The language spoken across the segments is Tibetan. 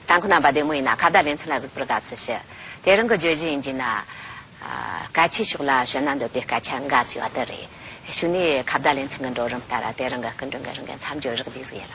དང་ཁོ་ན་བ་བདེ་མོ་ཡིན་ན་ཁ་བརྡ་ལེ་ཚན་ལ་གཟིགས་པར་དགའ་བསུ་ཞུ། དེ་རང་གི་བརྗོད་གཞི་ཡིན་གྱི་ན། སྐད་ཆའི་ཕྱོགས་ལ་བྱོན་ན་འདོད་པའི་སྐད་ཆ་འགའ་ཞིག་བ་དེ་རེད། ཞུ་ནས་ཁ་བརྡ་ལེ་ཚན་གྱི་འགྲོ་རིམ་ལྟར་དེ་རང་གི་སྐུ་མགྲོན་གྱི་རང་གི་མཚམས་སྦྱོར་རག་ལས་གཟིགས་ཡོད་ལ།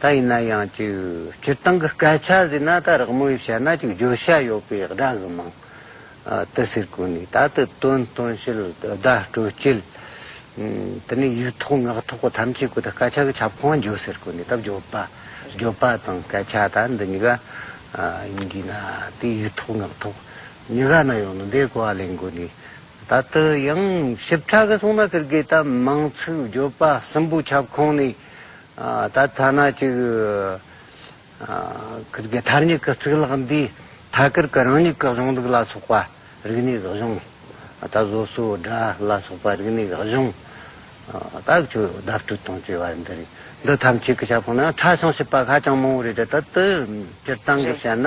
ད་ཡིན་ན་ཡང་ཅིག་སྤྱིར་བཏང་གི་སྐད་ཆ་ཟེར་ན་ད་རག་མོ་ཡིས་བཤད་ན་ཅིག་བརྗོད་བྱ་ཡོད་པའི་སྒྲ་གི་མིང་དུ་ཟེར་དགོས་ནི་ད་དུ་དོན་སྟོན་བྱེད་བརྡ་སྤྲོད་བྱེད། དེ་ནས་ཡིག་ཐོག་ངག་ཐོག་གི་ཐམས་ཅད་ཀུན་ད་སྐད་ཆ་གི་ཁྱབ་ཁོངས་བརྗོད་ཟེར་དགོས་ནི་ད་བརྗོད་པ་བརྗོད་པ་དང་སྐད་ཆ་ད་འདི་གཉིས་ཀ་ཡིན་དགོས་ན་དེ་ཡིག་ཐོག་ངག་ཐོག་གཉིས་ཀ་ན་ཡོད་ནི་དེ་གོ་བ་ལེན་དགོས་ནི་ད་དུ་ཡང་ཞིབ་ཕྲ་གི་གསུང་ན་ཀིར་གིས་ད་མིང་ཚིག་བརྗོད་པ་གསུམ་པོའི་ཁྱབ་ཁོངས་ནི། ད་ཐ་ན་གཅིག་གིར་གི་མཐར་མྱི་གི་གཙུག་ལག་འདིས་ཐ་གིར་གི་རང་མྱི་གི་གཞུང་ལུགས་ལ་སོགས་པ་རིག་གནས་ཀྱི་གཞུང། ད་བཟོ་སོའི་སྒྲ་ལ་སོགས་པ་རིག་གནས་ཀྱི་གཞུང། ད་ཁྱོད་བརྡ་སྤྲོད་དང་བཅས་པ་འདི་རིགས་འདི་ཐམས་ཅད་ཀྱི་ཁྱབ་ཁོངས་ནང་ཁྲ་ཞིང་ཞིབ་པ་ཧ་ཅང་མང་བོ་རེད་དེ་ལྟར་དུ་སྤྱིར་བཏང་གིས་བཤད་ན།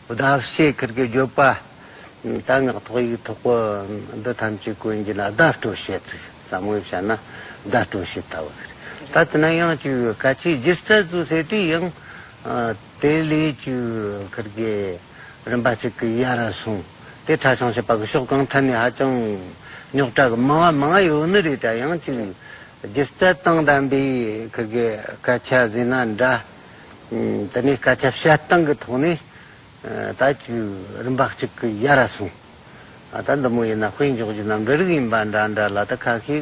བདག་ཤེས་ཁིར་གི་བརྗོད་པ། རྟ་ནག་ཐོག་ཡིག་ཐོག་པོ་འདི་ཐམས་ཅད་ཀུན་གྱི་ན་བརྡ་སྤྲོད་བྱེད་ཚིག་ཟབ་མོ་བྱས་ན་བརྡ་སྤྲོད་བྱེད་ལྟ་བུ་ཟེར། ད་དེ་ན་ཡང་བཅུ་བའི་སྐད་ཆའི་སྒྱུ་རྩལ་བཙུགས་ཟེར་དུས་ཡང་དེ་ལས་བཅུ་བའི་ཁིར་གི་རིམ་པ་ཅིག་གི་ཡ་ར་སོང་དེ་ཁྲ་ཆང་བྱེད་པ་གི་ཕྱོགས་གང་ཐད་ནས་ཧ་ཅང་རྙོག་དྲ་གི་མང་བ་མང་ཡོད་ནི་རེད་དྲ་ཡང་བཅུ་བའི་སྒྱུ་རྩལ་དང་ལྡན་པའི་ཁིར་གི་སྐད་ཆ་ཟེར་ན་འདྲ། འདི་ནས་སྐད་ཆ་བཤད་སྟངས་ཀྱི་ཐོག་ནས་ད་བཅུ་རིམ་པ་གཅིག་གི་ཡ་ར་སོང། ད་འདི་མོ་ཡིན་ན་དཔེ་འཇོག་རྒྱུ་རྣམས་འདྲ་རིགས་ཡིན་པ་འདྲ་འདྲ་ལ་ད་ཁ་ཤས་ཀྱི་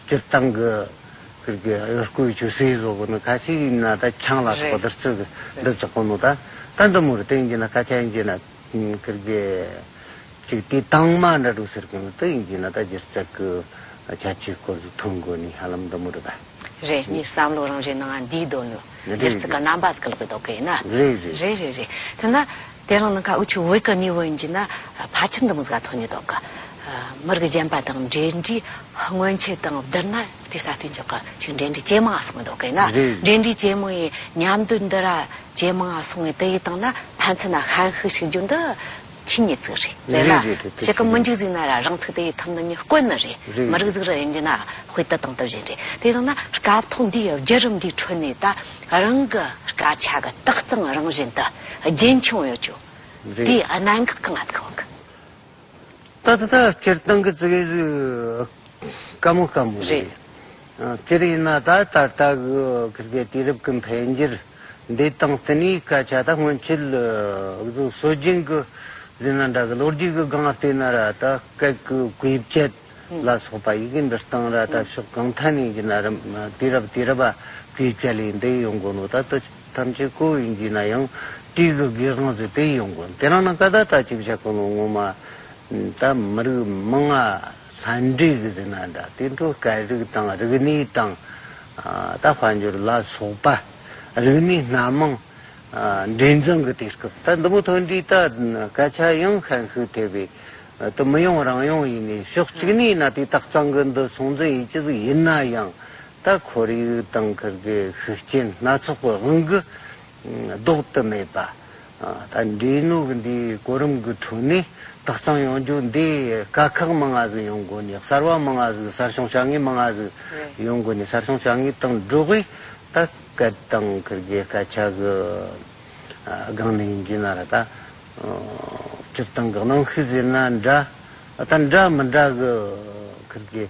སྤྱིར་བཏང་གི་ཁུལ་གྱི་གཡོ་སྐུའི་ཆོས་སྲིད་བཟོ་བོ་ནི་ཁ་ཤས་ཡིན་ན་ད་ཆང་ལ་སོགས་བསྡུར་ཚུལ་གྱི་འགྲུབ་ཆགས་པོ་མོ་ད་ད་འདི་མོར་བརྟེན་རྒྱུ་ན་སྐད་ཆ་ཡིན་རྒྱུ་ན་ཁུལ་གྱི། ཅིག་དེ་དྭངས་མ་འདྲ་འདུག་ཟེར་མཁན་མི་དེ་ཡིན་གྱི་ན་ད་འདིར་བཙལ་དགོས་རྒྱ་ཆེའི་སྐོར་དུ་ཐོན་དགོས་ནི་ཧ་ལམ་འདི་མོ་རེད་པ། རེད་ངས་བསམ་བློ་རང་རེ་ནང་འདིའི་དོན་ནི་རེད་རེད་རེད། འདིར་རྩི་ཀ་རྣམ་པ་ཀློག་པའི་དོ་ག་ཡིན་ན། རེད་རེད་རེད། རེད་རེད་རེད་དེ་ན་དེ་རང་ནང་ཁ་དབུ་ཆུ་བོའི་ཀ་ནི་བོ་ཡིན་གྱི་ན་ཕ་ཆེར་འདི་མོ་ཟིག་ལ་ཐོན་ནི་དོ་ག། མི་རིགས་གཞན་པ་དང་འབྲེལ་འདྲིས་སྔོན་ཆད་དང་བསྡུར་ན་དེ་གསར་ཐོན་ཆོག་ག་ཅིག་འབྲེལ་འདྲིས་ཇེ་མང་སོང་བའི་དོ་ག་ཡིན་ན། རེད་རེད། འབྲེལ་འདྲིས་ཇེ་མང་ཡིན་མཉམ་དུ་འདི་ར་ཇེ་མང་སོང་བའི་དེ་ཡི་སྟེང་ན་ཕན་ཚུན་ན་ཧན་ཧི་ཞིག་རྒྱུ་འདི། ཁྱི་ཉིད་གཟིགས་རེ་རེ་ན་ཕྱེད་ཀ་མི་འཇིགས་གཟིགས་ན་ར་རང་ཚིག་དེ་ཡི་ཐུབ་ན་ཉིད་དཀོན་ན་རེ་མི་རིགས་གཟིགས་ར་ཡིན་གྱི་ན་དཔེ་དེ་དང་དེ་བཞིན་རེ་དེ་ཡང་ན་སྐབས་ཐོག་འདིའི་བརྒྱུད་རིམ་འདིའི་ཁྲོད་ནས་ད་རང་གི་སྐད་ཆ་གི་རྟགས་གཙང་རང་བཞིན་དུ་རྒྱུན་འཁྱོངས་ཡོད་ཅུང་དེའི་གནད་འགག་གི་ངག་གི་བ། ད་ད་ད་སྤྱིར་བཏང་གི་ཚིག་གི་ག་མོ་ག་མོ་རེད། སྤྱིར་ཡིན་ན་ད་ད་ལྟ་གི་དུས་རབས་ཀྱི་འཕེལ་འགྱུར་འདི་དང་ལྟེ་གནས་སྐད་ཆ་དག་སྔོན་ཆད་གཟུགས་སྲོལ་རྒྱུན་གྱི་རྫུན་ལ་འདྲ་གི་ལོ་རྒྱུས་ཀྱི་སྒང་ལྟོས་ན་ར་ད་སྐད་ཀྱི་དགོས་བཅད་ལ་སོགས་པ་ཡི་གེ་འབྲི་སྟངས་ར་ད་ཕྱོགས་གང་ཐད་ནས་ཡིན་ན་རུང་དུས་རབས་དུས་རབས་པ་དགོས་བཅད་ལས་འདི་ཡོང་དགོས་ནོ་ད་ལྟ་ཐམས་ཅད་ཀོ་བའི་འཇུས་ན་ཡང་བཀྲིས་ཀྱི་དགེ་དབང་ཟེར་དེ་ཡོང་དགོས་དེ་རང་ན་ཀ་ད་ད་ཅིག་བྱ་གོ་ནོ་ངོ་མ་ད་མི་རིགས་མི་ང། ཟན་དྲུག་གི་ཟིན་ན་འདྲ་སྟེ་འཕྲུལ་དཀའི་རིགས་དང་རིགས་ནི་དང། ད་བར་འགྱུར་ལ་སོགས་པ་རིགས་ནི་སྣ་མང། འབྲིང་ཚང་གི་དུས་སྐབས་ད་འདི་མོ་ཐོན་དུས་ད་སྐད་ཆ་ཡང་ཤན་ཤུགས་ཐེབས་པའི་དུ་མི་ཡོང་རང་ཡོང་ཡིན་ནའི་ཕྱོགས་གཅིག་ནས་ན་དུས་རྟགས་གཙང་གི་འདི་སྲུང་འཛིན་ཡིད་ཆེས་ཡིན་ན་ཡང་ད་ཁོར་ཡུག་དང་ཁུར་གི་ཤུགས་རྐྱེན་སྣ་ཚོགས་གི་དབང་གིས། ལྡོག་ཏུ་མེད་པ། ད་འདྲའི་ནུབ་འདིའི་གོ་རིམ་གྱི་དྲུང་ནས་དག་གཙང་ཡོང་རྒྱུ་འདི་དཀའ་ཁག་མང་ང་ཟིག་ཡོང་དགོས་ནས་གསར་བ་མང་ང་ཟིག་གསར་བྱུང་བྱ་ངེས་མང་ང་ཟིག་ཡོང་དགོས་ནས་གསར་བྱུང་བྱ་ངེས་དང་སྒྲོག་གིས་ད་སྐད་གཏང་གི་རྒྱལ་སྐད་ཆ་གི་སྒང་ནས་ཡིན་གྱི་ན་ར་ད་སྤྱིར་བཏང་གི་གནང་ཤུལ་ཟེར་ན་འདྲ་ད་འདྲ་མི་འདྲ་གི་གི་རྒྱལ།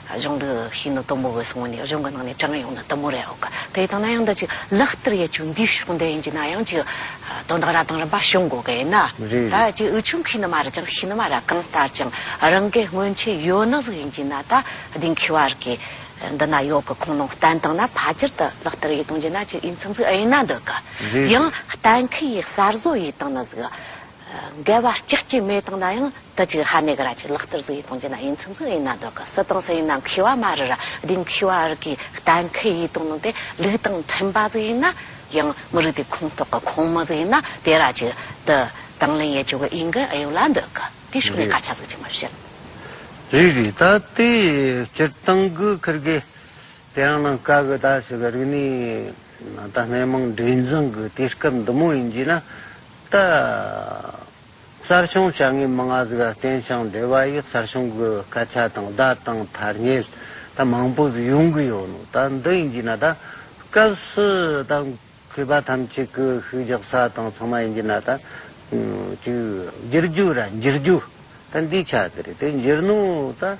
གཞུང་འདི་ཤིན་ཏུ་དུམ་བུ་བས་བཟུང་བ་ནི་གཞུང་གི་ནང་ནས་གྲངས་ཡོངས་དང་དུམ་བུ་རེའོ། དེ་ལྟ་ན་ཡང་འདི་ཅིག་ལག་བསྟར་ཡས་ཆུ་འདིའི་ཕྱོགས་འདི་ཡིན་གྱི་ན་ཡང་ཅིག་དོན་དག་ར་དང་རིམ་པ་བྱུང་དགོས་གལ་ཡིན་ན། ད་ཅིག་འུ་ཆུང་ཁྱི་ནི་མ་རེད་ཀྱང་ཤི་ནི་མ་རེད་གང་ལྟར་ཀྱང་རང་གའི་སྔོན་ཆད་ཡོད་ན་ཟིག་ཡིན་གྱི་ན་ད་དེང་གི་བར་གྱི་འདི་ན་ཡོད་གི་ཁུངས་ནང་བསྟན་དང་ན་ཕ་ཅིར་དུ་ལག་བསྟར་ཡས་གཏོང་གྱི་ན་ཅིག་ཡིན་མཚམས་ཟིག་ཨེ་ཡིན་ན་འདི་ག་ཡང་གཏན་འཁེལ་ཡས་གསར་བཟོ་ཡས་བཏང་ན་ཟིག། འགལ་བ་གཅིག་གཅིག་མེད་སྟངས་ན་ཡང་དུ་གཅིག་ཧ་ནེ་ག་ར་གཅིག་ལག་བསྟར་གཟུགས་ཡིག་གཏོང་རྒྱུ་ན་ཡིན་ཚུན་ཚུན་ཡིན་ན་འདོད་གི་སུ་དང་སུ་ཡིན་ན་མཁས་བ་མ་རི་ར་སྡིངས་མཁས་བ་རི་གིས་གཏན་འཁེལ་ཡིག་གཏོང་ནང་དེ་ལུགས་དང་མཐུན་པ་གཟུགས་ཡིན་ན་ཡང་མི་རིགས་དེ་ཁོངས་གཏོགས་གི་ཁོངས་མི་གཟུགས་ཡིན་ན་དེ་ར་གཅིག་དུ་དང་ལེན་ཡས་ཆོག་གི་ཡིན་གི་ཡོད་ལ་འདོད་གི་དེ་ཕྱོགས་ནས་སྐར་ཆ་གཟུགས་ཅིག་མི་བྱེད། རེད་རེད་ད་དེ་སྤྱིར་བཏང་གི་ཁུར་གི་དེ་རང་ནང་དཀའ་གི་ད་ཞིག་རིག་གནས་ད་སྣེ་མང་འདྲེས་འཛིང་གི་དུས་སྐབས་འདི་མོ་ཡིན་གྱི་ན། ཏི། གསར་བྱུང་བྱ་དངོས་མི་ལྔ་གཟུགས་ལ་བརྟེན་ཞིང་འབྲེལ་བ་ཡོད་གསར་བྱུང་གི་སྐད་ཆ་དང་བརྡ་དང་ཐར་ཉེལ་ད་མང་པོ་ཟིག་ཡོང་གི་ཡོད་ནོ་ད་འདི་ཡིན་གྱི་ན་ད་སྐབས་སུ་ད་གུས་པ་ཐམས་ཅད་ཀྱི་ཤུགས་རྒྱག་ས་དང་ཚང་མ་ཡིན་གྱི་ན་ད་ཅིག་འགྱུར་རྒྱུ་ར་འགྱུར་རྒྱུ་ད་འདི་ཆ་དེ་རེད་དེ་འགྱུར་ནོ་ད།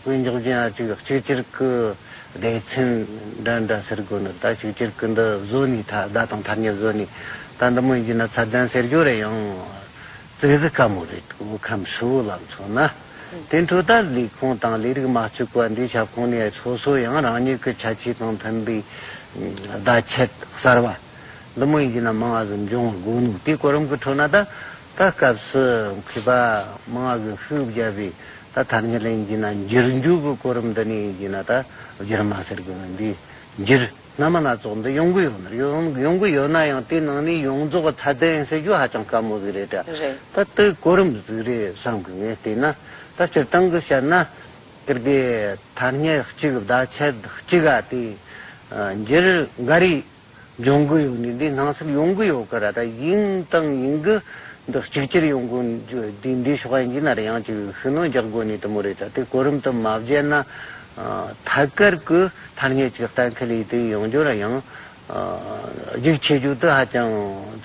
དབུས་མགྱོགས་ཅན་ཨ་ཅིག་གཅིག་གྱུར་གྱི་སྡེ་ཚན་འདྲ་འདྲ་ཟེར་དགོས་ནི་ད་གཅིག་གྱུར་གྱི་འདི་བཟོ་ནི་ད་ཟླ་དང་ཐ་སྙད་བཟོ་ནི་ད་འདི་མོ་ཡིན་ན་ཚ་གདན་ཟེར་རྒྱུ་རེད་ཡང་ཙིག་རྫི་དཀའ་མོ་རེད་འདུག་ཁམས་ཧྲིལ་བོ་ལ་མཚོན་ན། དེ་འཕྲོ་ད་ལས་ཁུངས་དང་ལས་རིགས་མ་བཅུག་པ་འདིའི་ཁྱབ་ཁོངས་ནས་སོ་སོ་ཡང་རང་ཉིད་ཀྱི་ཁྱད་ཆོས་དང་མཐུན་པའི་བརྡ་ཆད་གསར་བ་འདི་མོ་ཡིན་ན་མང་བ་ཟིན་འབྱུང་བ་དགོས་ནུག་དེ་གོ་རིམ་གྱི་འཕྲོ་ན་ད། ད་སྐབས་སུ་གུས་པ་མང་བ་གི་ཤུགས་བརྒྱབ་པའི་ད་ཐ་སྙད་ལེན་གྱིས་ན་འགྱུར་འགྱུར་གྱི་གོ་རིམ་འདི་ནས་ཡིན་གྱིས་ན་ད་འགྱུར་མ་ཟེར་དགོས་མིན་འདིས་འགྱུར་སྔ་མ་སྣ་ཚོགས་འདི་ཡོང་གི་ཡོད་མེད་ཡོང་གི་ཡོད་ན་ཡང་དེའི་ནང་ནས་ཡོངས་རྫོགས་ཀྱི་ཚད་ལྡན་ཟེར་རྒྱུ་ཧ་ཅང་དཀའ་མོ་ཟིག་རེད་དྲ་ད་དེའི་གོ་རིམ་ཟིག་རེད་བསམ་གི་ངས་བལྟས་ན་ད་སྤྱིར་བཏང་གི་བཤད་ན་གལ་ཏེ་ཐ་སྙད་གཅིག་བརྡ་ཆད་གཅིག་ག་དེའི་འགྱུར་འགའ་རེ་སྦྱོང་གི་ཡོད་ནི་འདི་སྣང་ཚུལ་ཡོང་གི་ཡོད་གི་ར་ད་ཡིན་དང་ཡིན་གི་འདི་གཅིག་གྱུར་ཡོང་གི་འདི་འདི་ཕྱོགས་ཡིན་གྱི་ནར་ཡང་ཅིག་ཤུགས་སྣོན་རྒྱག་དགོས་ནི་དུ་མོ་རེད་ད་དེ་གོ་རིམ་དུ་མ་བརྒྱད་ན་ཐད་ཀར་གི་ཐར་ཉེས་ཀྱི་གཏན་འཁེལ་ཡིད་དུ་ཡོང་རྒྱུ་ར་ཡང་རྒྱུགས་ཆེ་རྒྱུ་དེ་ཧ་ཅང་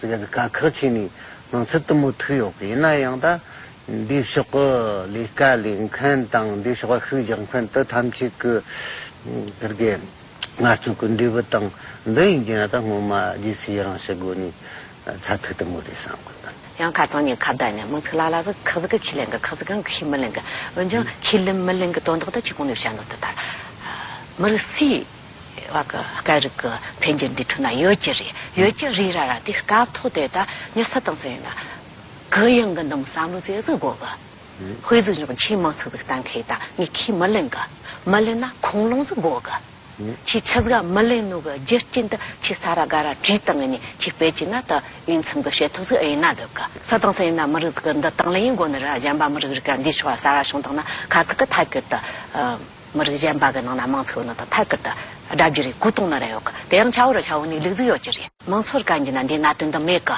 དཀའ་ཁག་ཆེ་ནི་སྣང་ཚུལ་དུ་མོ་ཐུག་ཡོད་གི་ཡིན་ན་ཡང་ད་འདི་ཕྱོགས་གི་ལས་ཀ་ལས་མཁན་དང་འདི་ཕྱོགས་ཤུགས་རྒྱག་མཁན་དུ་ཐམས་ཅད་གི་དགེ་རྒན། ངར་ཆུང་གི་འབྲས་བུ་དང་འདི་ཡིན་གྱི་ན་ད་སྔོན་མ་རྗེ་སིའི་རང་བྱས་སྒོ་ནས་ཚ་ཐུག་དུ་མོ་རེད་བསམ་གི་འདུག། ཡང་ཁ་སང་ཉིན་ཁ་བརྡ་ནས་མང་ཚིག་ལ་ལ་ཟིག་ཁག་ཟིག་གིས་ཁས་ལེན་གི་ཁག་ཟིག་གིས་ཁས་མི་ལེན་གི་འོན་ཀྱང་ཁས་ལེན་མི་ལེན་གི་དོན་དག་དེ་ཁྱེད་གོང་ནས་བཤད་འདུག་དེ་ལྟར་མི་རིགས་སའི་བར་གི་སྐད་རིགས་གི་འཕེལ་འགྱུར་འདི་འཁྲུལ་ན་ཡོད་ཀྱི་རེད་ཡོད་ཀྱི་རེད་ར་ར་དེ་སྐབས་ཐོག་དེ་ད་ཉི་ས་བཏང་ཟིན་ཡོད་ན་གུ་ཡངས་གི་འདུག་བསམ་བློ་རྩེ་གཟིགས་དགོས་གི། ཧུའེ་ཟི་ཞིང་ཆེན་མང་ཚོགས་ཚོགས་གཏན་འཁེལ་དང་ངས་ཁས་མི་ལེན་གི། མི་ལེན་ན་ཁུངས་ལུང་ཟིག་དགོས་གི། ཁྱེད་ཆི་ཟིག་ཨ་མི་ལེན་ནོ་གི་རྒྱུ་རྐྱེན་དུ་ཁྱེད་ས་ར་དགའ་ར་བྲིས་སྟངས་ངས་ཁྱེད་དཔེ་ཅི་ན་དུ་ཨིན་ཚིམ་གི་བྱེད་ཐུབ་ཟིག་ཨེ་ཡིན་ན་སྡོད་གི་ས་དང་ས་ཡིན་ན་མི་རིགས་ཟིག་གི་འདི་དང་ལེ་ཡིན་དགོ་ནི་ར་གཞན་པ་མི་རིགས་རིགས་ག་འདི་ཞོག་ས་ར་བྱུང་དང་ན་ཁ་ཁུར་དུ་ཐད་ཀར་དུ་མི་རིགས་གཞན་པ་གི་ནང་ན་མང་ཚོགས་ནང་དུ་ཐད་ཀར་དུ་སྒྲ་བརྒྱུད་རེ་སྐུལ་གཏོང་ནི་ར་ཡོག་གི་དེ་ཡང་ཆ་བོ་ར་ཆ་བོ་ནི་ལུག་ཟིག་ཡོག་ཅི་རེད། མང་ཚོགས་ར་ག་འགྱིན་ན་འདི་ན་དོན་དུ་མེད་གི།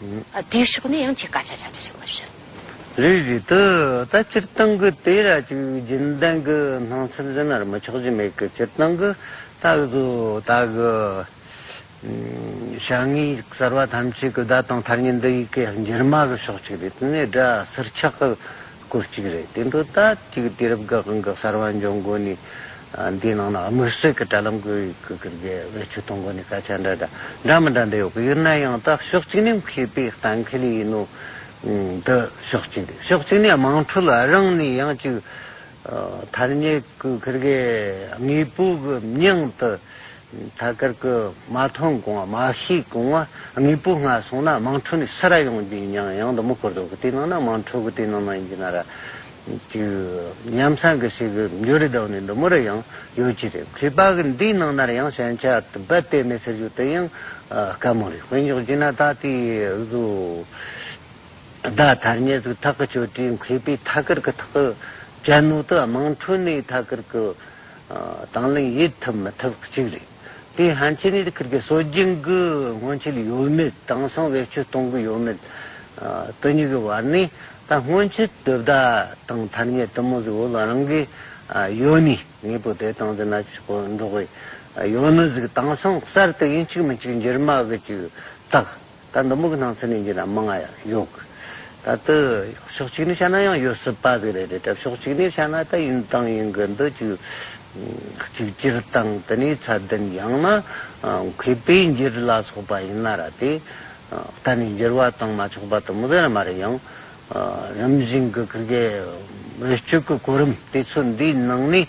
དེའི་ཕྱོགས་ནས་ཡང་ཆེས་སྐད་ཆ་ཆགས་ཆེ་ཞིག་མ་བཤད། རེད་རེད་དེ་ད་སྤྱིར་བཏང་གི་དེ་ར་ཅིག་རྒྱུན་ལྡན་གི་སྣང་ཚུལ་བཞིན་ནར་མི་ཆགས་རྒྱུ་མེད་གི་སྤྱིར་བཏང་གི་ད་གཟོ་ད་གི་བྱ་ངན་གསར་བ་ཐམས་ཅད་གི་བརྡ་དང་ཐར་ཉེན་འདི་ཡི་གེ་འགྱུར་མ་གི་ཕྱོགས་གཅིག་རེད་དེ་ནས་སྒྲ་ཟུར་ཆགས་གི། སྐོར་གཅིག་རེད་དེ་འདྲོ་ད་ཅིག་དུས་རབས་འགག་འགག་གསར་བ་འབྱུང་དགོས་ནི། འདིའི་ནང་ན་དམིགས་བསལ་གི་དྲ་ལམ་དགོས་གི་རྒྱལ་བས་ཆོས་ཐོང་དགོས་ནི་སྐད་ཆ་འདྲ་འདྲ་འདྲ་མི་འདྲ་འདྲ་ཡོད་གི་ཡོད་ན་ཡང་དག་ཕྱོགས་གཅིག་ནས་མཁས་པའི་གཏན་ཁེལ་ཡིན་ནོ། འདི་ཕྱོགས་གཅིག་འདི་ཕྱོགས་གཅིག་ནས་དམངས་ཁྲོད་ལ་རང་ནས་ཡང་ཅིག་ཐར་ཉེ་གི་གི་རྒྱལ་དངོས་པོ་གི་སྙིང་དུ། ཐ་སྐར་ཀུ་མ་ཐོན་གོང་བ་མ་ཤིས་གོང་བ་དངོས་པོ་སྔ་སོང་ན་དམངས་ཁྲོད་ནས་སུ་ར་ཡོང་རྒྱུ་ཡིན་ཡང་ཡང་དུ་མུ་འཁོར་དུ་གི་དེ་ནང་ན་དམངས་ཁྲོད་གི་དེ་ནང་ན་ཡིན་གྱི་ན་ར་དེ་ཉམས་སམ་གི་སེ་གི་འགྱོ་རི་དང་ནི་འདི་མོ་ར་ཡང་ཡོད་ཀྱི་རེད་ཁི་པ་གི་འདི་ནང་ན་ར་ཡང་ཞན་ཆ་དུ་བད་དེ་མེད་ཟེར་རྒྱུ་དེ་ཡང་དཀའ་མོ་རེད་དཔེ་འཇོག་གྱི་ན་ད་ལྟའི་བཟོ་ལྡ་ཐར་ཉེར་གི་ཐག་གི་ཆོས་གྲའི་མཁས་པའི་ཐ་སྐར་ཀུ་ཐག་གི་གྱ་ནུ་དུ་དམངས་ཁྲོད་ནས་ཐ་སྐར་ཀུ། དང་བླངས་དབྱེ་ཐུབ་མི་ཐུབ་གཅིག་རེད། དེའི་ཧན་ཆེ་ནས་ཁུར་ཁེ་སྲོལ་རྒྱུན་གྱི་སྔོན་ཆད་ཡོད་མེད་དེང་སང་བེད་སྤྱོད་གཏོང་གི་ཡོད་མེད་དེ་གཉིས་ཀྱི་བར་ནས་ད་སྔོན་ཆད་དོས་བདག་དང་ཐར་ཉེ་དུ་མོ་ཟིག་འོ་ལ་རང་གི་ཡོད་ནས་ངེད་པོ་དེ་དང་འཛིན་ན་ཆོད་པོ་འགྲོ་གི་ཡོད་ནི་ཟིག་དེང་སང་གསར་དུ་ཡིན་གཅིག་མིན་གཅིག་འགྱུར་མ་གི་གཅིག་བཏགས། ད་མདོ་སྨུག་གི་སྣང་ཚུལ་ནས་འགྱུར་ན་མི་ང་ཡང་ཡོད། ད་དུས་ཕྱོགས་གཅིག་ནས་བཤད་ན་ཡང་ཡོད་སྲིད་པ་དེ་རེད་དེ། ཕྱོགས་གཅིག་ནས་བཤད་ན་ད་ཡིན་དང་ཡིན་གྱི་འདུག་གཅིག་གཅིག་གྱུར་དང་དེ་ནས་ཚད་ལྡན་ཡང་ན་མཁས་པའི་འགྱུར་ལ་སོགས་པ་ཡིན་ན་ར་དེ་ལྟ་ནས་འགྱུར་བ་དང་མ་ཆོག་པ་དུ་མ་ཟེར་ན་མ་རེད་ཡང། རིམ་བཞིན་གྱི་ཀུན་དགའི་འོད་སྤྱོད་ཀྱི་གོ་རིམ་དེ་ཚོ་འདིའི་ནང་ནས་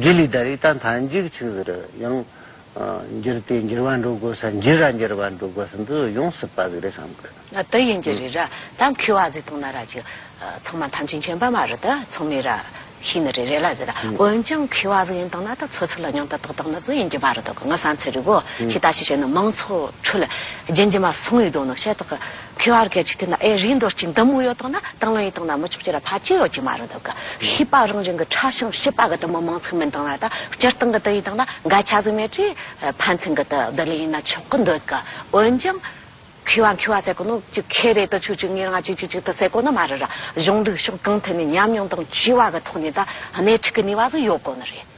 དགེ་ལས་ད་རེས་ད་མཐའ་མཇུག་ཆིག་ཟིག་རེད་ཡང། འགྱུར་དེ་འགྱུར་བ་འགྲོ་དགོས་ས་འགྱུར་ར་འགྱུར་བ་འགྲོ་དགོས་ས་འདི་ཡོངས་སུ་པ་ཟིག་རེད་བསམ་དགོས། ང་དི་ཡིན་གྱི་རི་ར་ད་འཁུལ་བ་ཟིག་དང་ན་ར་ཅིག་ཚང་མ་ཐམས་ཅད་མཁྱེན་པ་མ་རེད་ད་ཚང་མས་ར་ཤི་ནི་རེད་རེད་ལ་ཟེར་ར་འོན་ཀྱང་འཁུལ་བ་ཟིག་ཡིན་དང་ན་ད་ཚོ་ཚུར་ལ་མྱང་ད་ཏག་ཏག་ན་ཟིག་ཡིན་གྱི་པ་རེད་དོ་གི་ང་བསམ་ཚེ་རི་བོ་ཞིག་ད་ཞིག་བྱས་ན་མང་ཚོགས་ཁྲོད་ལ་རྒྱན་གྱི་མ་སོང་ཡོད་དོ་ནོ་ཤ་ཏག་གི། ཁྱོད་ཨར་གའི་ཆུ་ཐིགས་ན་ཨེ་རིའི་འདོར་ཅིག་འདམ་དབུས་ཡོད་དང་ན་དང་ལོ་ཡིན་དང་ན་མི་ཆོག་ཅི་ར་ཕ་ཅི་ཡོད་ཅིག་མ་རུ་འདུག་གི་ཤི་པ་རང་བྱུང་གི་ཁྲག་ཤིང་ཤི་པ་གི་དུ་མོ་མང་ཚིག་མིན་དང་ན་ད་སྤྱིར་བཏང་གི་དུ་ཡིན་དང་ན་འགའ་ཆ་ཟིག་མེད་ཀྱི་ཕན་ཚུན་གི་དུ་བདེ་ལེགས་ཡིན་ན་ཆོག་གི་འདོད་གི་འོན་ཀྱང། ཁུ་བ་འཁུ་བ་ཟེར་གོ་ནོ་ཅིག་ཁེ་རེ་དུ་ཆུ་ཅིག་ངེར་ང་ཅིག་ཅིག་ཅིག་དུ་ཟེར་གོ་ནི་མ་རུ་ར་གཞུང་ལུགས་ཤོག་གང་ཐད་ནས་ཉམས་མྱོང་དང་བྱིས་བ་གི་ཐོག་ནས་ད་སྣེ་ཁྲིད་གི་ནུས་བ་ཟིག་ཡོད་དགོས་ནི་རེད།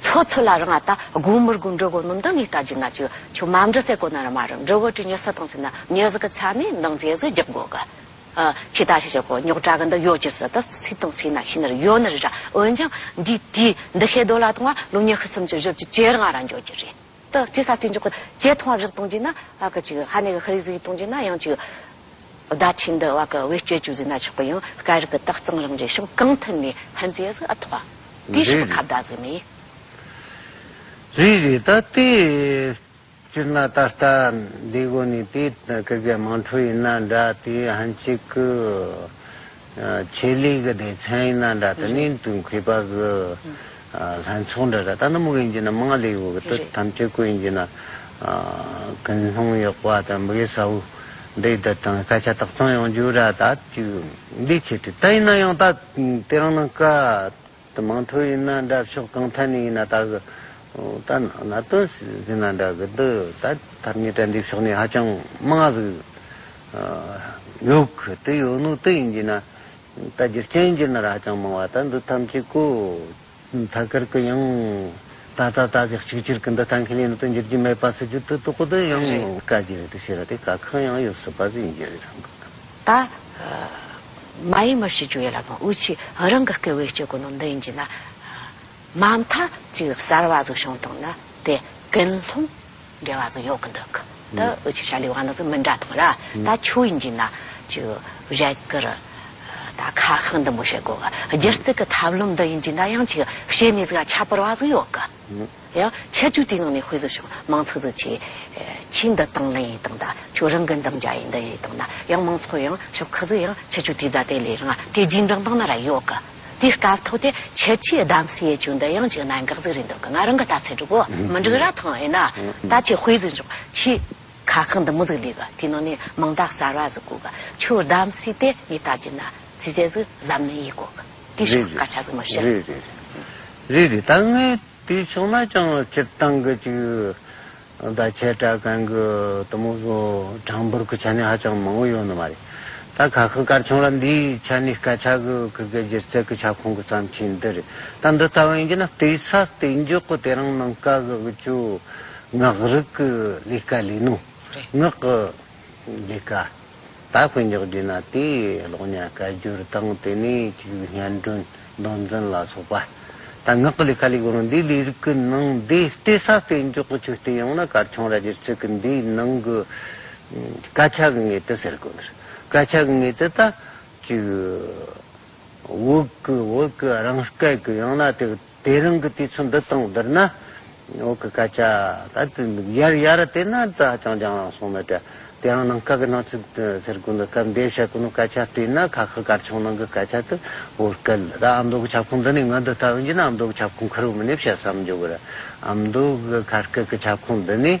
ཚོ་ཚོ་ལ་རང་ཨ་ད་དགུང་མོར་དགུང་འབྲུག་གོ་ནོམ་དང་ངེད་ལྟ་ཅི་ང་ཅི་ཆུ་མམ་འབྲུ་སེ་གོ་ན་ར་མ་རུ་འབྲུ་བོ་དྲི་མྱོས་ས་དང་ཟེ་ན་མྱོས་ཟ་གི་ཆ་མེད་མདང་རྗེས་གཟུགས་རྒྱག་དགོ་གི། ཕྱི་ད་ཤི་ཤི་གོ་ཉོག་དྲ་གི་འདི་ཡོ་ཅིར་ཟ་ད་སི་དང་སི་ན་ཤི་ན་རི་ཡོ་ན་རི་ར་འོན་ཅང་འདིས་དུས་འདི་ཤེད་དོ་ལ་དང་བ་ལོ་ཉི་ཤུ་སུམ་ཅུ་བཞི་བཅུ་བཅེར་ང་ར་འགྱོ་གི་རེད། དག་ཅེས་ས་ཐོན་འཇོག་གི་ཅེས་ཐོང་བ་བཞག་གཏོང་རྒྱུ་ན་བ་གི་ཅིག་ཧ་ནས་གི་ཧི་རིགས་གཟིགས་གཏོང་རྒྱུ་ན་ཡང་ཅིག། བརྡ་ཆད་འདི་བ་གི་བེད་སྤྱོད་ཅུ་གཟིགས་ན་ཆོག་གི་ཡང་སྐད་རིགས་གི་དག་གཙང་རང་བཞིན་ཤོམ་གང་མཐུན་ནས་ཧན་ཙི་ཡ་ཟིག་ཨ་ཐོ་བ། དེའི་ཕྱི་པ་ཁ་བརྡ་ཟིག་མི། རིགས་རིགས་ད་ལྟའི་སྤྱིར་ན་ད་ལྟ་འདི་གོ་ནི་དེའི་གི་གེ་མང་ཁྲུ་ཡིན་ན་འདྲ་དེའི་ཧན་ཅིག་གི། ཆེད་ལས་ཀྱི་སྡེ་ཚན་ཡིན་ན་འདྲ་དང་ནི་དུང་ཁུལ་པ་གི་ལྷན་ཚོགས་འདྲ་འདྲ་ད་ནམ་གྱི་ཡིན་གྱི་ན་དམངས་ལས་ཡོད་གི་དུ་དམ་ཆོས་ཀུན་ཡིན་གྱི་ན་ཀུན་སློང་ཡོད་པ་དང་མི་གཡོ་ས་བོ་འདི་ད་དང་སྐད་ཆ་དག་ཚང་ཡོང་རྒྱུ་ར་ད་དུས་འདི་ཆེད་དུ་ད་ཡིན་ན་ཡང་ད་དེ་རང་ནང་ཀ། ད་མང་ཐོས་ཡིན་ན་འདྲ་ཕྱོགས་གང་ཐད་ནས་ཡིན་ན་ད་གི། ད་ན་ན་དོན་ཟིན་ན་འདྲ་གི་འདི་ད་ཐབས་ཉིད་དྲན་འདི་ཕྱོགས་ནས་ཧ་ཅང་མང་ང་ཟིག་ཡོད་གི་དེ་ཡོད་ནོ་དེ་ཡིན་གྱི་ན་ད་རྒྱུ་རྐྱེན་རྒྱུ་ན་ར་ཧ་ཅང་མང་བ་ད་འདི་ཐམས་ཅད་ཀུ་ཐ་ཀར་གི་ཡང་ད་ད་ད་ཅི་གཅིག་གྱུར་གི་འདི་ཐང་ཁེ་ལས་ནི་དུ་འགྱུར་གྱི་མེད་པ་སུ་རྒྱུ་དུ་དོ་ཀུ་དེ་ཡང་དཀའ་རྒྱུ་རེད་དེ་ཤེས་ར་དེ་ག་གང་ཡང་ཡོད་སྲིད་པ་ཟིན་རྒྱུ་རེད་བསམ་གི། ད། མ་ཡིན་མི་ཞིག་བརྗོད་ཡོད་ལ་མོ་འུ་ཆི་རང་གི་སྐད་འོས་སྤྱོད་དགོས་ནོ་འདི་ཡིན་གྱི་ན། མ་མཐའ་གཅིག་གསར་བ་ཟིག་བྱུང་དང་ན་དེ་ཀན་ལྷུང་འབྲེལ་བ་ཟིག་ཡོག་གི་འདུག་གི་འདི་འུ་ཆི་ཤ་ལི་བ་ན་ཟིག་མི་འདྲ་དང་ར་ད་ཆོས་ཡིན་གྱི་ན་ཅིག་བཞད་གི་རུ། ད་ཁ་ཤག་འདི་མོ་བྱེད་དགོས་གི་སྒྱུ་རྩལ་གི་ཐབས་ལམ་འདི་ཡིན་གྱི་ན་ཡང་ཅིག་བྱེད་ནས་ཟིག་ཁྱད་པར་བ་ཟིག་ཡོག་གི། ཡང་ཆ་བཅུ་དེའི་ནང་ནས་དཔེ་བཟོ་ཞིང་མང་ཚགས་ཚགས་བྱས། ཕྱིས་འདི་བཏང་ལེན་ཡིན་དང་ད་ཆོས་རང་གི་འདམ་རྒྱག་ཡིན་འདི་ཡིན་དང་ད་ཡང་མང་ཚོགས་ཡང་ཞོག་ཁ་ཟུ་ཡང་ཆ་བཅུ་དེའི་རྫ་དེ་ལས་རང་ང་དེ་རྗེས་འབྲང་བཏང་ན་ར་ཡོག་གི། དེའི་སྐབས་ཐོག་དེ་ཆ་བཅུའི་གདམ་གསེས་ཡས་ཆུ་འདི་ཡང་ཅིག་གནད་འགག་ཟིག་རེད་འདུག་གི་ང་རང་གི་ལྟ་ཚད་གྲུབ་བོ་མི་འགྲིག་ར་ཐང་ཡིན་ན་ད་ཆེ་དཔེ་བཟོས་འཇོག་ཕྱིས་ཁ་ཁང་འདི་མོ་ཟིག་ལས་གི་དེའི་ནང་ནས་མིང་རྟགས་གསར་བ་ཟིག་བཀོད་གི་ཆོས་གདམ་གསེས་དེ་ངས་ལྟ་རྒྱུ་ན་ཚིག་བཅད་ཟིག་གཟབ་ནན་ཡིག་བཀོད་གི། འདི་ཞག་བཀའ་ཆགས་ཙམ་མ་བཤད། རེད་རེད་རེད་རེད་ད་ངས་དེ་ཕྱོགས་ན་ཅང་སྤྱིར་བཏང་གི་ཅིག་ད་ཁྱེད་དྲ་གང་གི་དུ་མོ་བཟོ་གྲངས་འབོར་གི་ཆ་ནས་ཧ་ཅང་མང་བོ་ཡོད་ནི་མ་རེད། ད་ཁ་ཁུ་དཀར་ཆུང་ལ་འདིའི་ཆ་ནས་བཀའ་ཆགས་གི་གི་གི་སྒྱུ་རྩལ་གི་ཁྱབ་ཁོངས་གི་བརྩམས་ཆོས་འདི་རེད་ད་འདི་ལྟ་བུ་ཡིན་གྱི་ན་བལྟས་ས་བལྟས་མགྱོགས་གི་དེ་རང་ནང་བཀའ་གི་གི་ཆོས་ངག་རིག་གི་ལས་ཀ་ལས་ནོ། རེད། ངག་གི། འདི་ཀ་ད་དཔེ་འཇོག་རྒྱུ་ན་དེའི་གློག་བརྙན་བཀའ་བསྒྱུར་དང་དེ་ནས་གཅིག་པུའི་སྙན་སྒྲོན་མདོ་འཛིན་ལ་སོགས་པ་དང་ངག་གི་ལས་ཀ་ལས་གོང་འདིའི་ལས་རིགས་ཀྱི་ནང་འདི་ལྟེ་ས་དཔེ་འཇོག་གི་ཆོས་སྟོན་ཡང་ན་སྐར་ཆུང་ར་རྒྱའི་ཚིག་གི་འདིའི་ནང་གི་སྐད་ཆ་གི་ངེས་དོན་ཟེར་དགོས་འདིར་སྐད་ཆ་གི་ངེས་དོན་ད་གཅིག་བོད་ཀྱི་བོད་ཀྱི་རང་སྐད་ཀྱི་ཡང་ན་དེ་དེ་རང་གི་དུས་ཚོད་འདི་དང་འདིར་ན། འོག་གི་སྐད་ཆ་ད་དུ་འདུག་ཡར་ཡར་དེ་ན་དུ་ཧ་ཅང་རྒྱང་རིང་སོང་མོད། དེ་ཡང་ནང་སྐབས་ཀྱི་ནང་ཆོས་ཟེར་དགོས་འདུག་སྐབས་འདས་བཤད་དགོས་ནུ་སྐད་ཆ་བྲིས་ན་ཁ་ཁ་གར་ཆོག་ནང་གི་སྐད་ཆ་དུ་བོར་སྐད་ལ་ཨ་མདོ་གི་ཁྱབ་ཁོངས་འདི་ནས་ང་འདི་ལྟ་བུ་འབྱིན་ན་ཨ་མདོ་གི་ཁྱབ་ཁོངས་ཁུར་བོ་མིན་ནས་བཤད་བསམ་བརྗོད་དགོས་རེད་ཨ་མདོ་གི་ཁ་སྐད་ཀྱི་ཁྱབ་ཁོངས་འདི་ནས།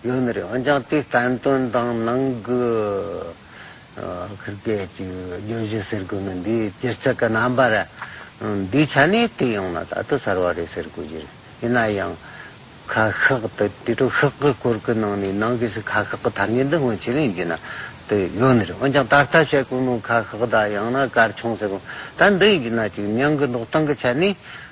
ཡུན་རིང་འོན་ཀྱང་དེའི་བསྟན་དོན་དང་ནང་གི་ཁུར་སྐད་ཀྱི་བརྗོད་གཞི་ཟེར་དགོས་མིན་འདི་སྤྱིར་ཚད་ཀྱི་རྣམ་པ་རེད། འདིའི་ཆ་ནས་དེ་ཡོང་ན་ད་དུ་གསར་བ་རེད་ཟེར་དགོས་ཀྱི་རེད། ཡིན་ན་ཡང། ཁ་ཤགས་དེ་དེ་དྲུག་ཤགས་ཀྱི་སྐོར་གྱི་ནང་ནས་ནང་གི་སི་ཁ་ཤགས་ཀྱི་ཐ་སྙད་འདི་སྔོན་ཆད་ལས་འབྱེད་ན་དེ་ཡུན་རིང་འོན་ཀྱང་ད་ལྟ་བཤད་དགོས་མིན་ཁ་ཤགས་དང་ཡང་ན་སྐར་ཆུང་ཟེར་དགོས་མིན་ད་འདི་ཡིན་ན་ཅིག་སྙིང་གི་འདོགས་སྟངས་ཀྱི་ཆ་ནས།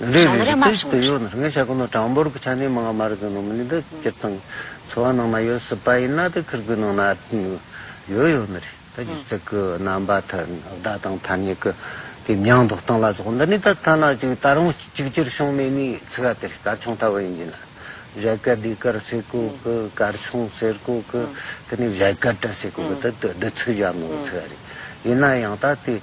རེ་རེ་རེ་ཏིས་ཏི་ཡོ་ནར་ངེས་བྱ་ཀུ་ནོ་གྲངས་འབོར་གྱི་ཆ་ནས་མང་བ་མ་རིག་གི་ནོ་མི་ལུས་འདི་སྤྱིར་བཏང་འཚོ་བ་ནང་ན་ཡོད་སྲིད་པ་ཡིན་ན་དེ་ཁིར་གུའི་ནང་ན་ཡོད་ཡོད་ནི་རེད་ད་གྱི་ཚིག་གི་རྣམ་པ་ཐ་བརྡ་དང་ཐ་སྙད་ཀྱི་དེ་མྱང་འདོགས་སྟངས་ལ་སོགས་འདི་ནི་ད་ཐ་ན་གཅིག་ད་རུང་གཅིག་གྱུར་བྱུང་མེད་མི་ཚིག་ག་དེ་རེད་དར་ཆུང་ལྟ་བུ་ཡིན་གྱི་ན་བཞད་གད་དེ་གར་སེ་ཀོ་གི་གར་ཆུང་ཟེར་ཀོ་གི་དེ་ནི་བཞད་གད་དྲ་སེ་ཀོ་གི་དེ་དེ་དེ་ཚིག་གཞན་ནོར་བུ་ཚིག་ག་རེད་ཡིན་ན་ཡང་ད་དེ།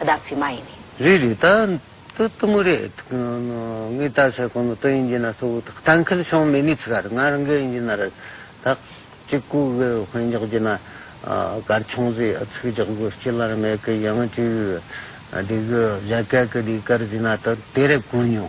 བདག་ཚིག་མ་ཡིན་ནི། རེ་རེ་ད་ཏུ་མུ་རེ། ངའི་ད་ཚིག་ཁོ་ནོ་ཏུ་ཡིན་གྱི་ན་ཏུ་བུ་ཐག་ཐང་ཁིལ་ཤོང་མེ་ནི་ཚིག་གར་ང་རང་གི་ཡིན་གྱི་ན་རེ། ཐག་གཅིག་གུ་བེ་བྷན་རྒྱག་གྱི་ན་གར་ཆུང་ཟི་ཚིག་རྒྱག་གུ་སྐྱི་ལར་མེ་གི་ཡང་ཅི་བི་བི། འདི་གུ་བྱ་གད་གི་འདི་གར་ཟི་ན་ཏུ་དེ་རེ་གུ་ཉོ།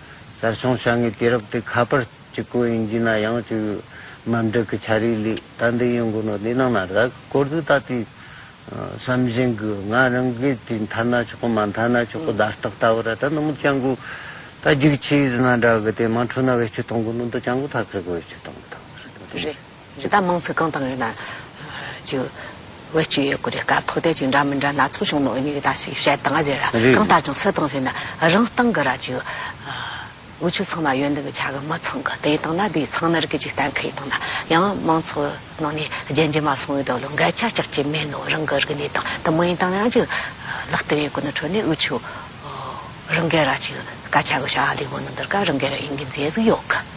གསར་བྱུང་བྱ་ངན་དུས་རབས་དེ་ཁ་པར་གྱི་སྐོར་ཡིན་རྒྱུ་ན་ཡང་བཅུག་ཡོད། འམ་བསྒྲིགས་ཀྱི་བྱ་རིགས་ལས་ད་འདི་ཡོང་དགོས་ནོ་འདི་གནང་ན་ར་གི་སྐོར་དུ་ད་ལྟའི་བསམ་བཞིན་གྱི་ང་རང་གི་དུས་མཐའ་ན་ཆོག་གི་མ་མཐའ་ན་ཆོག་གི་བརྡ་རྟགས་ལྟ་བུ་ར་ད་ནུ་མོ་ལྕང་སྐུ་ད་རྒྱུགས་ཆེའི་ཟི་ན་འདྲ་གི་དེ་མ་འཕྲོད་ན་བེད་སྤྱོད་གཏོང་གི་ནུ་མདོ་ལྕང་སྐུ་ཐག་ཁེར་གི་བེད་སྤྱོད་གཏོང་གི་ཐུག་གི་རེད། རི་དྭགས་དམངས་ཚིས་གང་དང་ཡོད་ན། ཅིག། བེད་སྤྱོད་ཡོད་དགོས་རེད་དཀའ་ཐོག་དེ་ཅིག་འདྲ་མི་འདྲ་ན་ཚོགས་ཆུང་ནང་འོས་མི་རེ་ད་ཞིག་བཤད་དང་ཟེར་ར་གང་ལྟར་ཅང་སེ་དང་ཟེར་ན་རང་སྟང་གི་ར་ཅིག། དབུས་ཆོས་ཚང་ན་ཡོད་འདུག་གི་ཆ་གི་མི་ཚང་གི་དེ་དང་ན་དེའི་ཚང་ནར་གི་ཅིག་གཏན་འཁེལ་དང་ན་ཡང་དམངས་ཚོགས་ནང་ནས་རྗེན་རྗེན་མ་སོང་བའི་དོགས་ལུང་འགལ་ཆ་ཅག་ཅིག་མེད་ནོ་རང་གི་རིག་གནས་དང་དུ་མ་ཡིན་དང་ན་ཡང་ཅིག། ལག་ཏུ་ཡོད་གོ་ནི་ཁྲོད་ནས་དབུས་ཆོས། རང་གི་ར་ཅིག་དཀའ་ཆ་གི་ཤ་ཨ་ལི་བོ་ནི་འདིར་ག་རང་གི་ར་ཡིན་གི་མཛེས་གཟིགས་ཡོད་གི།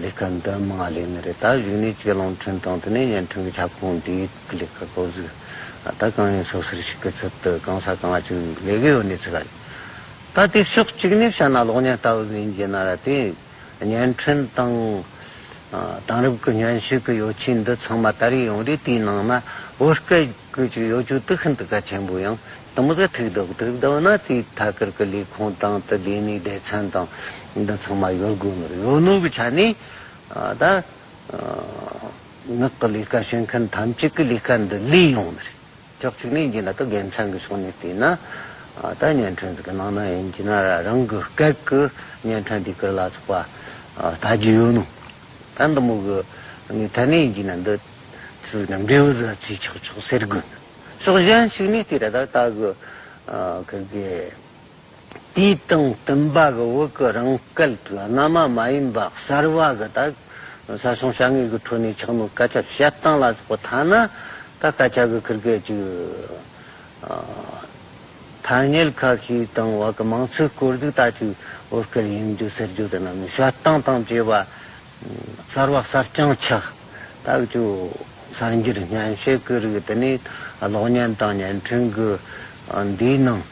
ལས་ཀ་འདི་མ་ལས་ནི་རེད་ད་གཞུག་ནས་ཁྱེད་རླུང་འཕྲིན་དང་དེ་ནས་བརྙན་འཕྲིན་གྱི་ཁྱབ་ཁོངས་འདིའི་ཐུགས་ཀྱི་ལས་ཀ་ཀོ་གཟུགས་ད་གང་ཡིན་སོ་ཟེར་ཞིག་གི་ཚུལ་དུ་གང་ས་གང་བྱུང་ལས་ཀའི་འོག་ནས་ཚུད་ཀ་ཡོད་ད་དེ་ཕྱོགས་གཅིག་ནས་བཤད་ན་གློག་བརྙན་ལྟ་བུ་ཟིན་རྒྱུ་ན་ར་དེ་བརྙན་འཕྲིན་དང་དེང་རབས་ཀྱི་བརྙན་ཞུགས་ཀྱི་ཡོ་ཆས་འདི་ཚང་མ་ད་རེས་ཡོང་རེས་དེའི་ནང་ན་བོད་སྐད། ཀུན་གྱི་གཡོ་སྒྱུ་དུག་ཤིན་ཏུ་གལ་ཆེན་པོ་ཡང་དུ་མི་ཟད་ཐུགས་བདེ་བོ་ཐུགས་བདེ་བོ་ན་དེའི་ཐད་ཀར་གྱི་ལས་ཁུངས་དང་དུ་བདེ་གནས་སྡེ་ཚན་དང་འདི་ཚང་མ་གཡོར་དགོས་ནོར་གཡོ་ནོར་གྱི་ཆ་ནས་ད་ངག་གི་ལས་ཀ་བྱེད་མཁན་ཐམས་ཅད་ཀྱི་ལས་ཀ་འདི་ལས་ཡོང་ནི་རེད་ཅོག་ཅིག་ནས་འདི་ལ་ད་དགེ་མཚན་གྱི་ཕྱོགས་ནས་བལྟས་ན་ད་བརྙན་འཕྲིན་ཟེར་གྱི་ནང་ན་ཡིན་གྱི་ན་རང་གི་སྐད་ཀྱི་བརྙན་འཕྲིན་དེ་ཀྱི་ལ་ཚོགས་པ་ད་རྒྱུ་ཡོད་ནོ་ད་འདི་མོ་གི་ནས་ཐད་ནས་ཡིན་གྱི་ན་འདི། ཚུལ་ནི་མདེའུ་བཟའ་ཚུལ་ཆགས་ཆོག་ཟེར་དགོས། ཕྱོགས་གཞན་ཞིག་ནས་དེ་ར་དག་ལྟ་གི། ཁྱེད་ཀྱི་དུས་དང་བསྟུན་པ་གི་འོག་གི་རང་སྐལ་དུས་སྔ་མ་མ་ཡིན་པ་གསར་བ་གི་དག་ས་ཞིང་བྱ་ངན་གི་ཁྲོད་ནས་ཆགས་མི་སྐད་ཆ་བཤད་སྟངས་ལ་སོགས་པ་ཐ་ན་ད་སྐད་ཆ་གི་ཁྱེར་སྐད་ཅིག་ཐ་སྙད་ཁ་ཤས་དང་བ་གི་མང་ཚིག་སྐོར་ཅིག་ལྟ་ཅི་འོ་སྐལ་ཡིན་རྒྱུ་ཟེར་རྒྱུ་དེ་རྣམས་ནི་བཤད་སྟངས་དང་བཅས་པ། གསར་བ་གསར་རྐྱང་ཆགས་རྟགས་ཀྱི་གསར་འགྱུར་སྙན་ཤལ་སྐུ་རིགས་དེ་ནི་གློག་བརྙན་དང་བརྙན་འཕྲིན་གྱི་འདིའི་ནང་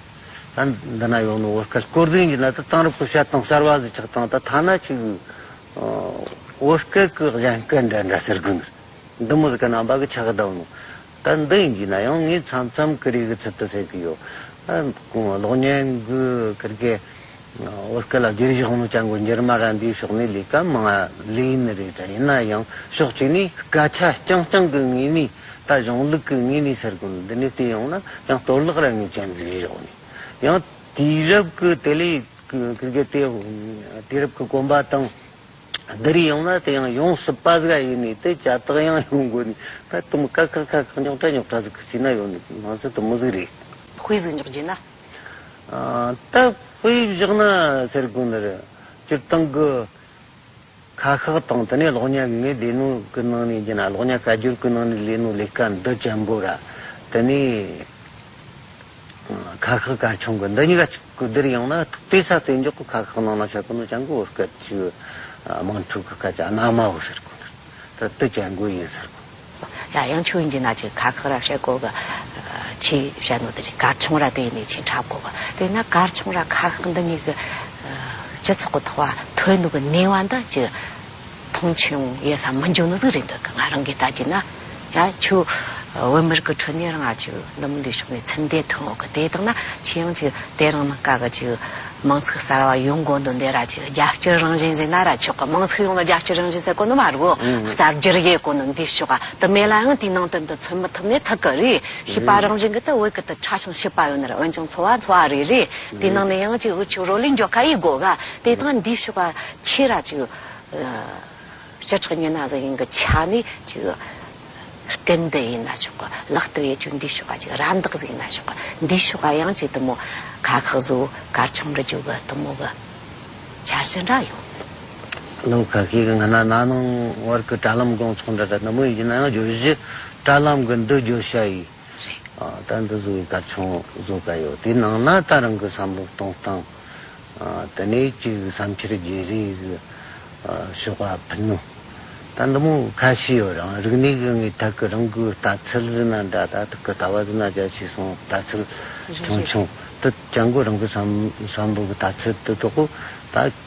ད་འདི་ན་ཡོང་ནི་བོད་སྐད་སྐོར་དོན་གྱི་ནང་དུ་གཏང་རོགས་སྐུ་བཤད་དང་གསར་བ་གཟི་ཆགས་དང་ད་ཐ་ན་ཅིག་བོད་སྐད་ཀྱི་གཞན་སྐད་འདྲ་འདྲ་ཟེར་གི་འདུག་འདི་མོ་ཟེར་གི་རྣམ་པ་གི་ཆགས་གདའ་འདུག་ད་འདི་ཡིན་གྱི་ན་ཡང་ངས་མཚམས་མཚམས་སྐུ་རིགས་གི་ཚུལ་དུ་ཟེར་གི་ཡོད་གློག་བརྙན་གྱི་སྐུ་རྒེ། བོད་སྐད་ལ་བསྒྱུར་བཞག་མོ་ཅང་གོ་འགྱུར་མ་རན་པའི་ཕྱོགས་ནས་ལས་ཀ་མང་བ་ལས་ཡིན་ནི་རེད་དྲ་ཡིན་ན་ཡང་ཕྱོགས་གཅིག་ནས་སྐད་ཆ་རྐྱང་རྐྱང་གི་ངོས་ནས་ད་གཞུང་ལུགས་ཀྱི་ངོས་ནས་ཟེར་དགོས་འདི་ནས་བལྟས་ཡོང་ན་ཡང་གཏོར་བརླག་ར་ངོས་ཅན་འཛིན་ཞོག་ནས་ཡང་དུས་རབས་ཀྱི་དེ་ལས་ཀྱི་གི་དེ་དུས་རབས་ཀྱི་གོམ་པ་དང་བསྡུ་རེས་ཡོང་ན་དེ་ཡང་ཡོང་སྲིད་པ་ཟིག་ཡིན་ནི་དེ་ཅ་ཏག་ཡང་ཡོང་དགོས་ནི་ད་དུམ་ཀ་ཁག་ཁག་ཁག་ཉོག་དྲ་ཉོག་དྲ་ཟིག་ཀྱི་བྱས་ན་ཡོང་ནི་ང་ཚོ་དུམ་མོ་ཟིག་རེད། དཔེ་ཟིག་འཇོག་རྒྱུ་ན། སྟབས་བུ་ཡིས་བཞག་ན་ཟེར་དགོས་ནི་རེད། སྤྱིར་བཏང་གི་ཁ་ཤགས་དང་དེ་ནས་གློག་བརྙན་ངས་ལས་སྣོན་གི་ནང་ནས་རྒྱུ་ན་གློག་བརྙན་བཀའ་བསྒྱུར་གི་ནང་ནས་ལས་སྣོན་ལས་ཀ་འདི་ཅན་པོ་ར་དེ་ནས་ཁ་ཤགས་སྐར་ཆུང་གི་འདི་གཉིས་ཀ་གཅིག་གི་འདིར་ཡང་ན་ཐུག་དེ་ས་དེ་འཇོག་གི་ཁ་ཤགས་ནང་ན་ཆ་གི་ནོ་ཅང་གི་འོད་སྐད་ཅིག་དམངས་ཁྲོད་གི་སྐད་ཆ་སྣ་མའོ་ཟེར་དགོས་ནི་རེད་ད་དུ་ཅན་གོ་ཡིན་ཟེར་དགོས། ར་ཡང་ཆུ་ཡིན་གྱི་ན་ཅིག་གར་ཁག་ར་ཧྲེ་གོ་གི་ཆི་ཧྲེ་ནོ་དེ་རི་གར་ཆུང་ར་དེ་ནི་ཆིན་ཁྲབ་གོ་གི་དེ་ན་གར་ཆུང་ར་ཁ་ཁག་འདི་གཉིས་ཀྱི་སྤྱི་ཚོགས་ཀྱི་ཐོག་བ་ཐོའི་ནུ་གི་ནེ་བ་འདི་ཅི་མཐོང་ཆུང་ཡོད་ས་མི་འཇུག་ནི་ཟིག་རེད་འདོད་གི་ང་རང་གིས་ལྟ་གྱི་ན་ཡ་ཆུ་བོད་མི་རིགས་ཀྱི་ཁྲོད་ནས་རང་ཨ་ཆུ་འདི་མི་འདུག་ཕྱོགས་ནས་ཚིམ་འདེད་ཐོན་འོག་གི་དེ་དག་ན་ཆི་ཡང་ཅིག་དེ་རང་ནི་དཀའ་གི་ཅིག། དམངས་ཚིག་གསར་བ་ཡོང་དགོས་འདུག་འདི་ར་ཅིག་རྒྱ་སྐྱེད་རང་བཞིན་ཟེར་ན་ར་ཆོག་གི་དམངས་ཚིག་ཡོངས་ལ་རྒྱ་སྐྱེད་རང་བཞིན་ཟེར་དགོས་ནི་མ་རུ་གསར་བསྒྱུར་ཡས་དགོས་ནི་འདི་ཕྱོགས་དུ་མེད་ལ་ཡང་དེའི་ནང་དོན་དུ་མཚོན་མི་ཐུབ་ནི་ཐུག་གི་རེད་ཤེས་པ་རང་བཞིན་གི་དུ་འོད་ཀི་དུ་ཁྲ་ཞིང་ཤེས་པ་ཡོད་ནི་རེད་འོན་ཀྱང་འཚོ་བ་འཚོ་བ་རེད་རེད་དེའི་ནང་ནས་ཡང་ཅིག་འུ་ཆོས་རོ་ལས་འཇོག་ཁ་ཡིས་དགོས་ག་དེ་དང་འདི་ཕྱོགས་ཆེ་ར་ཅིག་བྱེ་བྲག་ཉི་ན་གཟུགས་ཡིན་གྱི་ཆ་ནི་གཅིག། སྐལ་ལྡན་ཡིན་ན་ཆོག་གི་ལག་བསྟར་ཡས་བཅུ་འདུས་ཞོག་ག་གཅིག་རང་བདག་གཟུགས་ཡིན་ན་ཆོག་གི་འདུས་ཞོག་ག་ཡང་གཅིག་དུ་མོ། ཁ་ཁག་གཟུགས་གར་ཆུང་རུ་བཅུག་གི་དུ་མོ་གི། འཆར་ཞེན་འདྲ་ཡོད། ནམ་མཁའ་ཤེལ་གྱི་ང་ན་ན་ནང་བར་གྱི་དྲ་ལམ་སྒོང་ཚང་འདྲ་དྲ་ནུབ་མོ་ཡིན་ན་ཡང་བརྗོད་གཞི་དྲ་ལམ་གྱི་འདུ་བརྗོད་བྱ་ཡིས། རེད། ད་འདི་བཟོ་བའི་སྐར་ཆུང་བཟོ་ག་ཡོད་དེའི་ནང་ན་ད་རང་གི་བསམ་བློ་གཏོང་སྟངས་དེ་ནས་ཅིག་བསམ་འཆར་བརྗེ་རེས་ཞོག་ཨ་ཕི་ནུ། ད་འདི་མོ་ཁ་ཤི་ཡོད་རང་རིག་གནས་གི་ངའི་ཐག་གི་རང་གི་ལྟ་ཚུལ་ཟི་ན་འདྲ་ད་ཐག་གི་ལྟ་བ་ཟི་ན་རྒྱ་ཆེ་སོང་ལྟ་ཚུལ་ཆུང་ཆུང་དུ་ཀྱང་གོ་རང་གི་བསམ་བློ་གི་ལྟ་ཚུལ་དུ་གཏོགས་གོ་ད།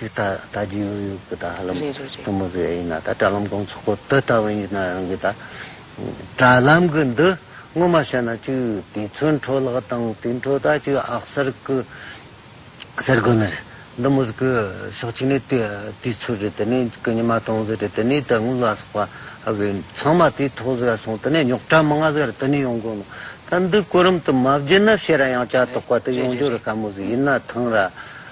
ཅེས་ད་ད་རྒྱུན་ཨུ་ཡོག་གི་ད་ཧ་ལམ་གཏུམ་མོ་ཟེར་ཡ་ཡིན་ན་ད་དྲ་ལམ་དགོང་ཚོགས་པ་དེ་ལྟ་བུ་ཡིན་ན་ཡང་གི་ད། དྲ་ལམ་གི་འདི་སྔོན་མ་བཤད་ན་ཅིག་དུས་ཚོད་འཕྲོ་བརླག་དང་དུས་འཕྲོ་ད་ཅིག་ཨག་གསར་གི་གསར་དགོན་ནི་རེད་འདི་མོ་ཟིག་གི་ཕྱོགས་གཅིག་ནས་དུས་དུས་ཚོད་རེད་དེ་ནས་གི་ཉི་མ་སྟོང་ཟིག་རེད་དེ་ནས་ད་དངུལ་ལ་སོགས་པ་ཨ་གི་ཚང་མ་དུས་ཐོག་ཟིག་སོང་དེ་ནས་ཉོག་དྲ་མི་ང་ཟིག་རེད་དེ་ནས་ཡོང་དགོས་ནོ་ད་འདི་གོ་རིམ་དུ་མ་བརྒྱུད་ན་བཤད་ར་ཡང་བྱ་དོག་པ་དེ་ཡོང་རྒྱུ་རུ་དཀའ་མོ་ཟིག་ཡིན་ན་ཐང་ར།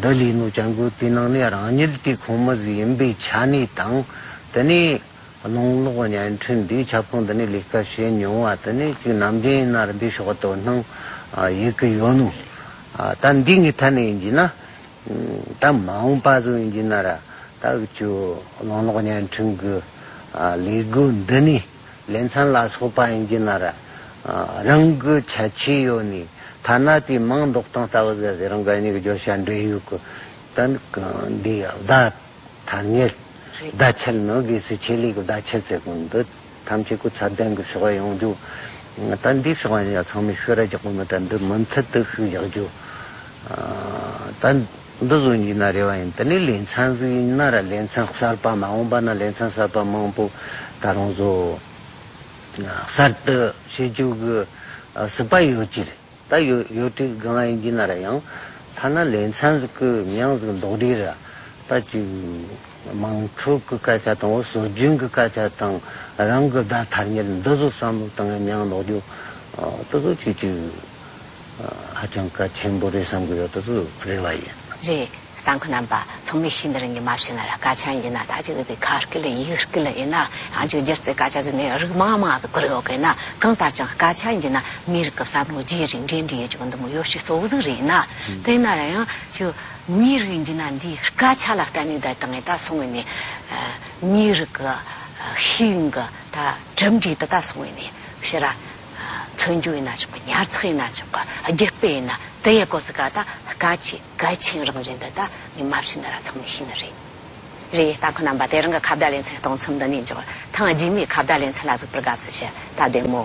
འདི་ལས་ནུ་ཅང་དགོས་པའི་ནང་ནས་རང་ཉིད་དེ་ཁོངས་མི་ཟིག་ཡིན་པའི་ཆ་ནས་དང། དེ་ནས་གནང་ལོག་བརྙན་འཕྲིན་འདིའི་ཁྱབ་ཁོངས་འདི་ནས་ལས་ཀ་བྱེད་མྱོང་བ་དེ་ནི་གཅིག་ནམ་རྒྱུན་ཡིན་ན་རེ་འདི་ཕྱོགས་དོ་སྣང་ཡོད་ཀི་ཡོད་ནོ། ད་འདི་ངའི་ཐད་ནས་ཡིན་གྱི་ན། ད་མ་འོངས་པ་ཚོ་ཡིན་གྱི་ན་ར། ད་བུ་ཆུ་གནང་ལོག་བརྙན་འཕྲིན་གྱི་ལས་སྒོ་འདི་ནས། ལས་མཚན་ལ་སོགས་པ་ཡིན་གྱི་ན་ར། རང་གི་ཆ་ཆེ་ཡོད་ནི། ཐ་ན་དེའི་མིང་འདོགས་སྟངས་ལྟ་བུ་ཟད་ཟེར་རང་གི་གཉིས་ཀྱི་བརྗོད་བྱ་འབྲེལ་ཡོད་ཀྱི། དོན་གྱི་འདིའི་བརྡ་ཐ་སྙད། བརྡ་ཆད་ནི་དགེ་སེལ་ཆེད་ལས་ཀྱི་བརྡ་ཆད་ཟེར་དགོས་འདི་ཐམས་ཅད་སྐུ་ཚབ་གདན་གྱི་ཞུ་བ་ཡོང་རྒྱུ། ད་འདིའི་ཞུ་བ་ཡང་ཚང་མས་ཤོད་ར་རྒྱག་པ་མི་ད་འདི་མུ་མཐུད་དུ་ཞུ་རྒྱག་རྒྱུ། ད། འདི་བཟོ་རྒྱུ་ན་རེ་བ་ཡིན་དེ་ནས་ལས་མཚམས་གཟིགས་ཡིན་ན་ར་ལས་མཚམས་གསར་པ་མ་འོངས་པ་ན་ལས་མཚམས་གསར་པ་མང་པོ་ད་རུང་བཟོ་གསར་གཏོད་བྱེད་རྒྱུ་གི་སྲིད་པ་ཡོད་ཀྱི་རེད་ད་ཡོད་ཡོད་དུས་དགའ་ང་ཡིན་གྱི་ན་ར་ཡང་ཐ་ན་ལས་མཚམས་གི་མྱང་གཟིགས་མདོག་འདྲི་ར་ད་ཅིག་མང་ཕྲུག་གི་སྐད་ཆ་དང་བོ་སྲོལ་རྒྱུན་གི་སྐད་ཆ་དང་རང་གི་བརྡ་ཐར་ཉེར་འདི་བཟོ་བསམ་བློ་དང་ངེ་མྱང་ལོག་རྒྱུ་དུ་བཟོ་བྱེད་ཀྱི། ཧ་ཅང་གལ་ཆེན་པོ་རེད་བསམ་གི་ཡོད་ད་ཚོད་རེད་ལ་ཡིན། རེད་ད་ཁོ་རྣམ་པ་ཚང་མས་ཤིན་ཏུ་རང་གི་མ་བྱས་ན་ར་ཀ་ཆང་ཡིན་ན་ད་ཅིག་འདི་ཁ་རྐི་ལ་ཡིག་རྐི་ལ་ཡིན་ན་ཡང་ཅིག་སྒྱུར་རྩིས་ཀ་ཆ་ཟིན་ནས་རིགས་མང་མང་ཟིག་བཀོད་ཡོད་གི་ན་གང་ལྟར་ཀྱང་ཀ་ཆ་ཡིན་ན་མི་རིགས་ཀྱི་བསམ་བློ་རྒྱས་རིགས་འགྲན་འདྲིས་ཡོད་ཅིག་འདི་མོ་ཡོ་ཤི་སོ་ཟིག་རེད་ན་དེ་ན་ར་ཡང་ཅིག་མི་རིགས་ཡིན་ན་འདི་ཀ་ཆ་ལ་བརྟེན་ནས་ད་ད་ངས་ད་སོང་བས་ནས་མི་རིགས་ཀྱི་ཤེས་ཡོན་གྱི་ད་གྲུབ་འབྲས་འདི་ད་སོང་བས་ནས་བཤད་ར། མཚོན་རྒྱུ་ཡིན་ན་ཆོག་གི་ཉར་ཚགས་ཡིན་ན་ཆོག་གི་རྒྱུ་སྤེལ་ཡིན་ན་དེ་ཡི་གོ་ས་ག་ད་ག་ཆེ་གལ་ཆེན་རང་བཞིན་འདི་ད་ངས་མ་ཤི་ན་ར་ཐང་ནས་ཤི་ནི་རེད། རེད་ཡེ་ད་ཁོ་རྣམས་པ་དེ་རང་གི་ཁ་བརྡ་ལེ་ཚན་གཏོང་མཚམས་འདི་ནས་འཇོག་ཐང་རྗེས་མའི་ཁ་བརྡ་ལེ་ཚན་ལ་གཟིགས་པར་དགའ་བསུ་ཞུ་ད་བདེ་མོ།